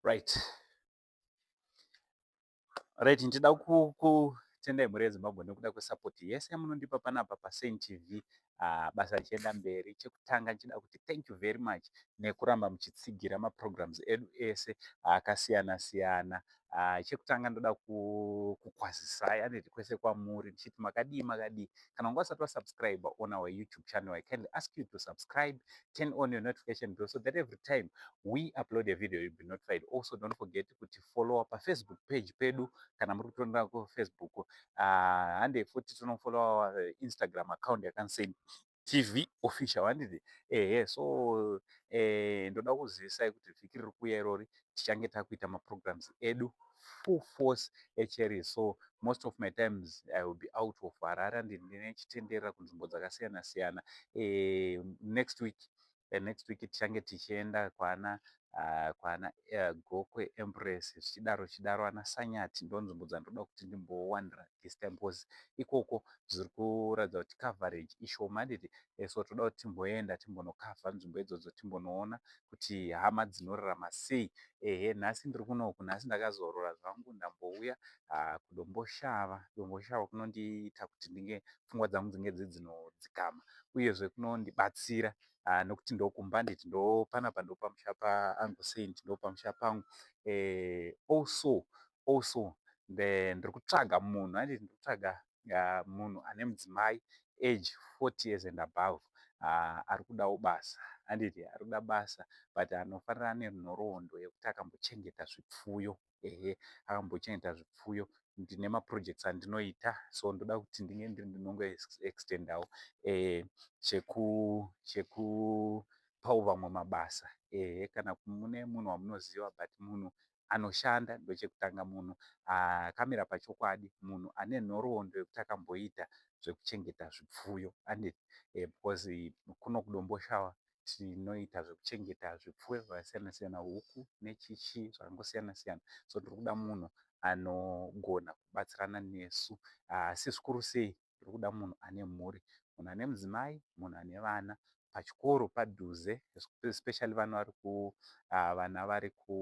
right right ndida kutendai mhuri yezimbabwe nekuda kwesapoti yese yamunondipa panapa pasain tv uh, basa richienda mberi chekutanga ndichida kuti thank you very much nekuramba muchitsigira maprograms edu ese akasiyana siyana Uh, chekutanga ndoda kukwazisai ane request kwamuri ndichiti makadii makadii kana wanga usati wasubscribe on our youtube channel i kindly ask you to subscribe turn on your notification bell so that every time we upload a video you'll be notified also don't forget kuti followa pafacebook page pedu kana muri kutonera kufacebook uh, hande futi tinofollowa uh, instagram account yakanseyi TV official handiti ehe so eh, ndoda kuzivisai kuti vhiki riri kuuya irori tichange takuita maprograms edu full force echeri so most of my times i will be out of harare and ndine chitenderera kunzvimbo dzakasiyana siyana eh, next week eh, next week tichange tichienda kwana uh, kwana uh, gokwe empress zvichidaro zvichidaro ana sanyati ndonzvimbo dzandoda kuti ndimbowanira this time because ikoko zviri kuratidza kuti coverage ishoma handiti eh, so toda kuti timboenda timbonokavha nzvimbo idzodzo timbonoona kuti hama dzinorarama sei ehe nhasi ndiri kunoku nhasi ndakazorora zvangu ndambouya uh, kudomboshava domboshava kunondiita kuti ndinge pfungwa dzangu dzinge dziri dzinodzikama uyezve kunondibatsira ah, nokuti ndokumba handiti ndopanapa ndopamusha paangu saint ndopamusha pangu eh, also also ndiri kutsvaga munhu handiti ndiri kutsvaga ah, munhu ane mudzimai age 40 years and above ah, ari kudawo basa handiti ari kuda basa but anofanira ane nhoroondo yekuti akambochengeta zvipfuyo ehe akambochengeta zvipfuyo ndine maprojects andinoita so ndoda kuti ndinge ndiri ndinongo extendawo eh, cheku cheku pawo vamwe mabasa ehe kana mune munhu wamunoziva but munhu anoshanda ndochekutanga munhu akamira pachokwadi munhu ane nhoroondo yekuti akamboita zvekuchengeta zvipfuyo andi eh, because kuno kudomboshawa tinoita zvekuchengeta zvipfuyo zvakasiyana siyana huku nechichi zvakangosiyana siyana so tiri kuda munhu anogona kubatsirana nesu asi zvikuru sei tiri kuda munhu ane mhuri munhu ane mudzimai munhu ane vana pachikoro padhuze especially vana vari ku vana vari ku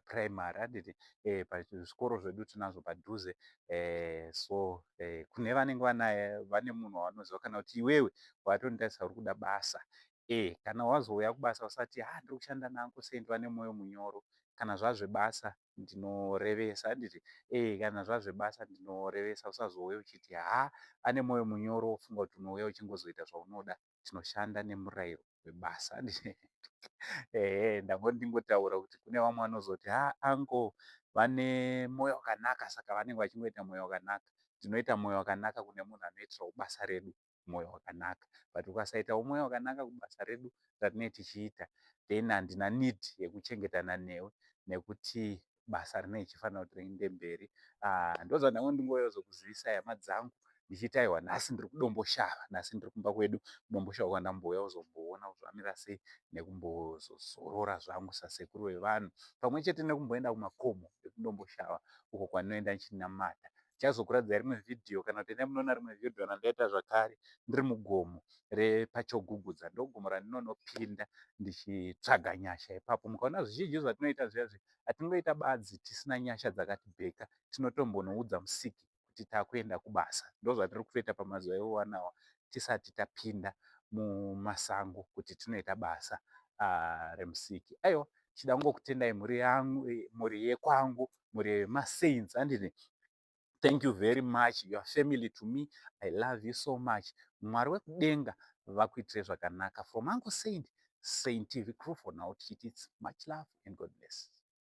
primary handiti eh, pazvikoro zvedu tinazvo padhuze eh, so eh, kune vanenge vanaye vane munhu wavanoziva kana kuti iwewe watondaisa uri kuda basa eh, kana wazouya kubasa usati ha ah, ndiri kushanda nanko sendi vane mwoyo munyoro kana zvazvebasa ndinorevesa handiti eh, kana zvazvebasa ndinorevesa usazouya uchiti ha ah, ane mwoyo munyoro wofunga kuti unouya uchingozoita zvaunoda chinoshanda nemurayiro webasa ehe ndangoti ndingotaura kuti kune vamwe vanozoti ha anko vane mwoyo wakanaka saka vanenge vachingoita mwoyo wakanaka tinoita mwoyo wakanaka kune munhu anoitirawo basa redu mwoyo wakanaka but ukasaitawo mwoyo wakanaka kubasa redu ratinee tichiita then handina need yekuchengetana newe nekuti basa rinenge richifanira kuti riinde mberi ah, ndoza ndangu ndingoyozokuzivisai hama dzangu ndichiti aiwa nhasi ndiri kudomboshava nhasi ndiri kumba kwedu kudomboshava kwandambouya kuzomboona kuzvamira sei nekumbozozorora zvangu sasekuru vevanhu pamwe chete nekumboenda kumakomo ekudomboshava uko kwandinoenda ndichinamata ndichazokuradzai rimwe vhidhiyo kana kuti endai munoona rimwe vhidhiyo randaita zvakare ndiri mugomo repachogugudza ndogomo randinonopinda ndichitsvaga nyasha ipapo mukaona zvizhinji zvatinoita zviya zviya hatingoita badzi tisina nyasha dzakati bheka tinotombonoudza musiki kuti takuenda kubasa ndozvatiri kutoita pamazuva iwowanawa tisati tapinda mumasango kuti tinoita basa uh, remusiki aiwa chida kungokutendai mhuri yangu eh, mhuri yekwangu mhuri yemasaints andini thank you very much your family to me i love you so much mwari wekudenga vakuitire zvakanaka from ango saint saint tv crew for now tichiti much love and god bless